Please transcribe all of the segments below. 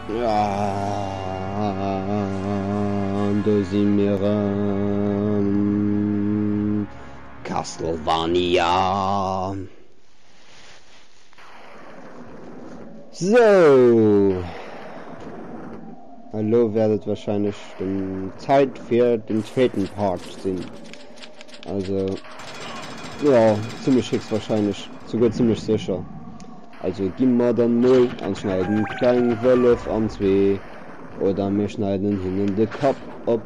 An do si mir erëm, Castlevania. Sou, elo wäert et wahrscheinlech den Zait fir den zweeten Part sinn. Also jo, zimlech héchstwahrscheinlech, souguer zimlech sécher. Also gin mer dann mol an schneiden kleng Wëllef an zwee oder mir schneiden hinnen de Kapp op.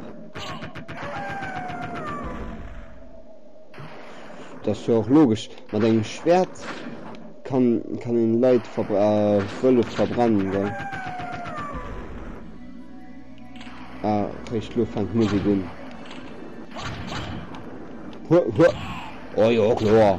Dat ass jo och logesch, mat engem Schwert kann een Leit a Wëllef verbrennen gell. Ah réischt lo fänkt d'Musik un. Huah huah. Oh jo kloer.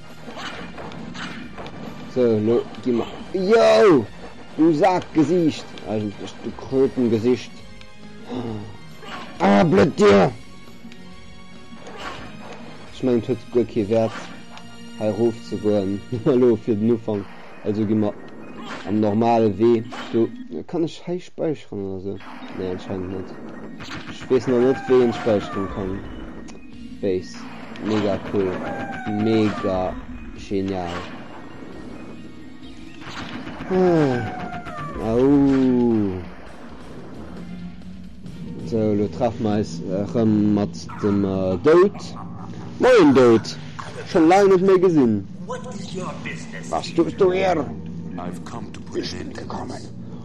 So, lo gi mer. Jou! Du Sakgesiicht! Eigentlech du Krötengesicht. Ah, blöd Dir! Ech mengen, et huet guer kee Wäert, hei rof ze goen. Elo fir den Ufank. Also gi mer am normale Wee do. Kann ech hei späicheren oder sou? Nee, anscheinend net. Ech weess nach net, wéi een späicheren kann. Base mega cool mega genial ah ooh sou lo treffen mer eis rem mat dem Doud. Moien Doud, schon laang net méi gesin, was duchs du hier? Ech sin gekommen.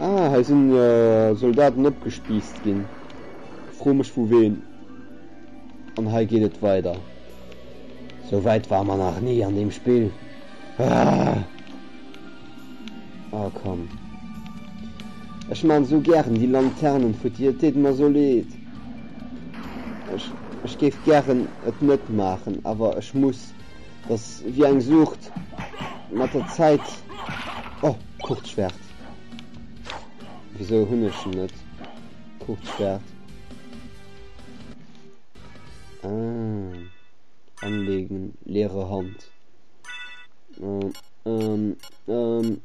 Ah, hei sinn Soldaten opgespiisst ginn. Fro mech vu ween. An hei geet et weider. Sou wäit war mer nach ni an deem Spill. Ah! Ah komm. Ech maan sou gären déi Lanternen futti, et deet mer sou leed. Ech géif gären et net maachen, awer ech muss. Dass wéi eng Sucht mat der Zäit, oh Kurzschwert, wisou hunn ech en net? Kurzschwert, ah, anleegen, leere Hand, oh, ähm, ähm,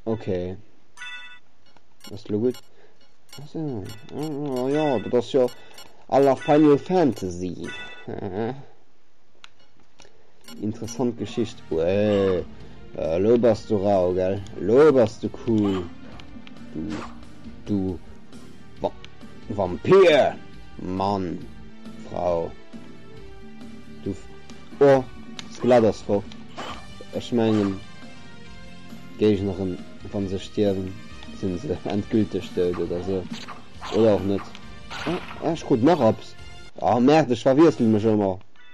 ok, ass lo gutt, jo, dat ass jo à la Final Fantasy, hehe. Interessant Geschicht. Uäh. Äh, lo bass du rau, gell? Lo bass du cool. Du. Du. Va Vampir! Mann. Frau. Du. Oh, Skelett ass fort. Ech mengen. Géignerin, wann se stierwen, sinn se endgülteg dout oder sou. Oder och net. Ah, ech krut nach Abs. Ah, merde, ech verwiessele mech ëmmer.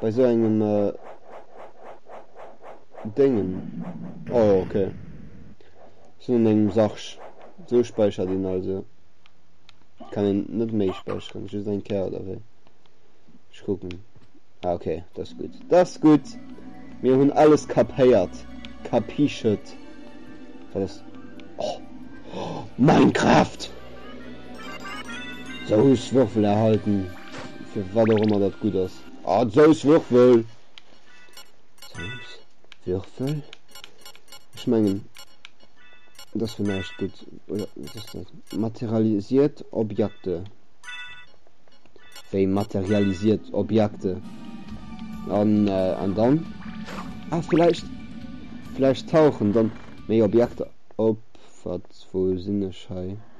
bei sou engem Déngen, oh jo ok, sinn an engem Sarg, sou späichert een also, kann een net méi späicheren, just eng Kéier oder wéi? Ech kucken, ah ok, dat ass gutt, dat ass gutt, mir hunn alles kapéiert, kapichet, wat ass, oh, Minecraft! Sous Würfel erhalten. Fir wat och ëmmer dat gutt ass. Ah, Souswürfel! Souswürfel? Ech mengen, et ass fir näischt gutt. Oder wat ass dat? Materialisiert Objekte. Wéi materialisiert Objekte? An, äh, an dann? Ah, vläicht, vläicht tauchen dann méi Objekter op. Wat, wou sinn ech hei?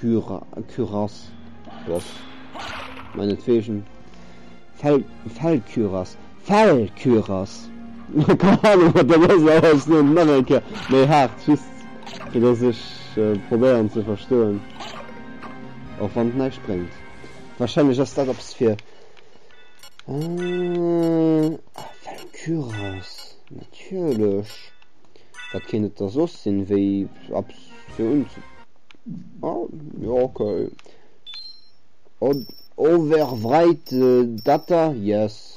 Kürass, Ross, meinetwegen Fellkürass, Fellkürass, keng Ahnung wat dat ass, awer ech soen et nach eng Kéier méi haart, just fir datt ech probéieren ze verstoen, och wann et näischt bréngt. Warscheinlech ass dat eppes fir, ah, Fellkürass, natierlech, wat kéint et da soss sinn, wéi eppes fir unze. Ah, ja, okay. Und overwrite äh, Data, yes.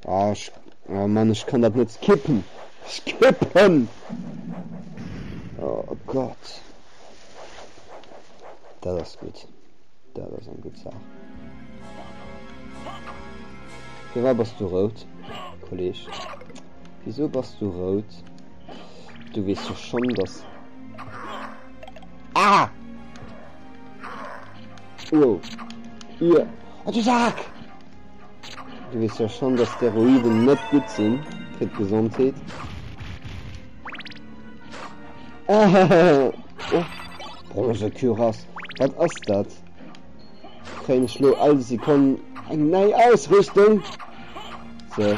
Ah, ich, oh Mann, ich kann das nicht skippen. Skippen! Oh Gott. Das ist gut. Das ist eine gute Sache. Für was bist du rot, Kollege? Wieso bist du rot? Du wees jo schon dass. Ah! Wow. Ihr. Oh, du Sack! Du wees jo schon dass Steroiden net gut sinn fir d'Gesondheet. Oh, Bronze Kyras. Wat ass dat? Kréien ech lo all Sekonn eng nei Ausrüstung? So.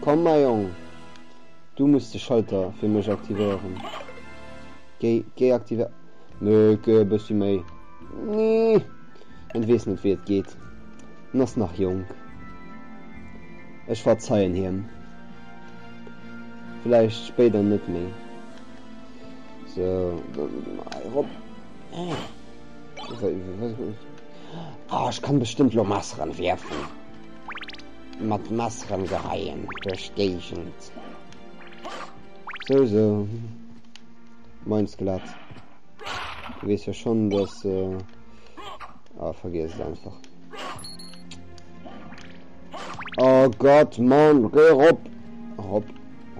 Komm mäi Jong, du muss de Schalter fir mech aktivéieren. Géi géi aktivéieren. Mécke, e bëssi méi. Nee, en weess net wéi et geet. En ass nach jonk. Ech verzeien hiem. Vläicht spéider net méi. Sou, dann gi mer hei erop. Ah, ech kann bestëmmt lo Messeren wierfen. Mat Messeren geheien duerch d'Géigend. Sou, sou, moin Skelett. Du weess jo schonn, dass. Ah, vergiess et einfach. Oh Gott, Mann, geh rop! Rop,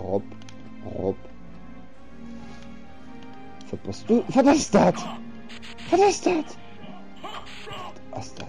rop, rop. Was bist du? Was ist das? Was ist das? Was ist das?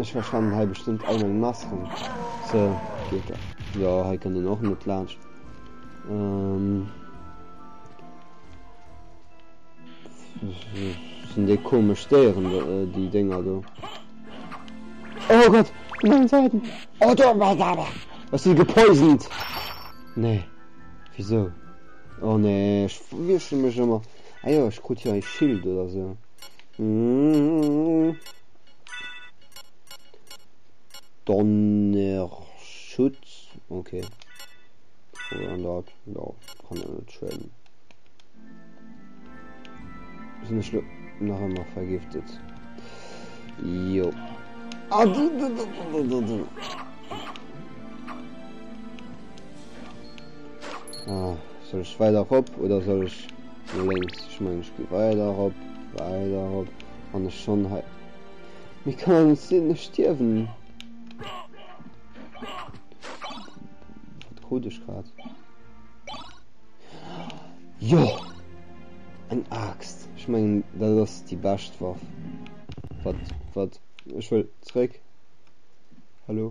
Ech verschwannen hei bestëmmt all meng Masken. So, geet dat. Jo, hei kënnt een och net laanscht. Ähm. Sinn déi komesch Déieren, äh, déi Dénger do. Oh Gott, op mengem Säiten. Oh, do, mei Dame. Ass si gepoisoned? Nee. Wieso? Oh nee, ech wiessche mech ëmmer. Ah jo, ech krut jo e Schild oder sou. Donnerschutz. Okay. Oder an dat. Ja, kann ja net schwéieren. Sinn ech nach ëmmer vergiftet. Jo. Ah, du, du, du, du, du, du. Ah. Soll ech weider rop oder soll ech no lénks? Ech mengen ech gi weider rop, weider rop, wann ech schonn hei. Mee kann et net sinn, ech stierwen! Wat krut ech grad? Jo! Eng Aaxt! Ech mengen dat ass déi bescht Waff. Wat, wat, ech wëll zréck! Hallo?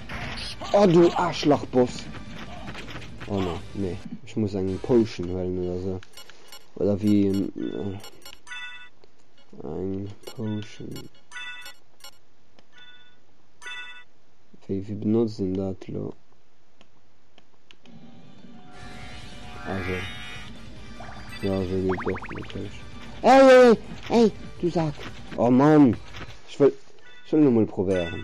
Oh du Aarschlachboss! Oh ne, ne. Ech muss eng Potion huelen oder se. Oder wie. Äh, eng Potion. Wie, wie benutzt den dat lo? Also. Ja, so geht doch natürlich. Ey, ey, ey, du Sack! Oh Mann! Ich will. Ich will nur mal probieren.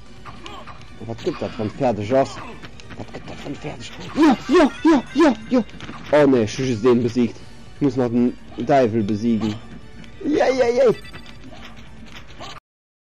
Wat gëtt dat wann fäerdeg ass? Wat gëtt dat wann fäerdeg? Jo, jo, jo, jo, jo! Oh nee, ech hu just een besiegt. Ech muss nach den Däiwel besiegen. Jéi, jéi, jéi!